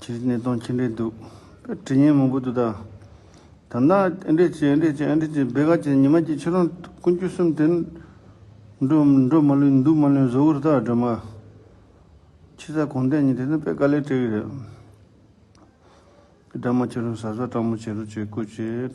ཁྱེད་ཀྱི་གནས་སྟངས་ཅི་འདྲའི་སྡུག། དྲི་སྙན་མང་པོ་འདུག་ད། ད་ནག་ཨེ་འདྲས་ཅི་ཨེ་འདྲས་ཅི་ཨེ་འདྲས་ཅི་བེ་ག་ཅི་ཉི་མ་ཅི་ཁྱེད་རང་ཀུན་སྐྱོ་གསུམ་དེ། འགྲོ་འགྲོ་མ་ལོན་འདུག་མ་ལོན་བཟོ་བོར་ད་སྒྲོལ་མ། ཁྱི་ཟ་གོང་བསྟན་གཉིས་དེ་ནི་བེ་ག་ལས་བྲེལ་གི་རེད། སྒྲ་མ་ཁྱེད་རང་ཟ་ཟ་སྤྲང་མོ་བྱེད་རོགས་བྱེད་དགོས་བྱེད།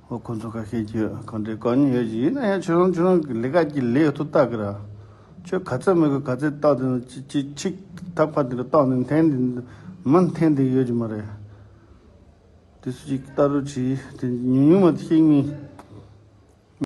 ཨོ་ཁོ་ཚོ་ཁ་ཤས་ཀྱིས་གང་དྲན་གང་ཉན་ཡོད་ཀྱི་ཡིན་ན་ཡང་ཁྱོད་རང་ཁྱོད་རང་གི་ལས་ཀ་གྱི་ལས་ཐོག་བལྟ་གི་ར། ཁྱོད་ག་ཚད་མི་དགོས་ག་ཚད་བལྟ་དེ་ནས་ཅི་ཆིག་ཐག་པ་དེ་ག་བཏང་ནས་འཐེན་དེ་མི་འཐེན་དེ་ཡོད་ཀྱི་མ་རེད། དེ་སུ་གཅིག་གི་བལྟ་རུ་ཆིག་དེ་ཉུང་ཉུང་མ་དེ་ཤེས་ངེས།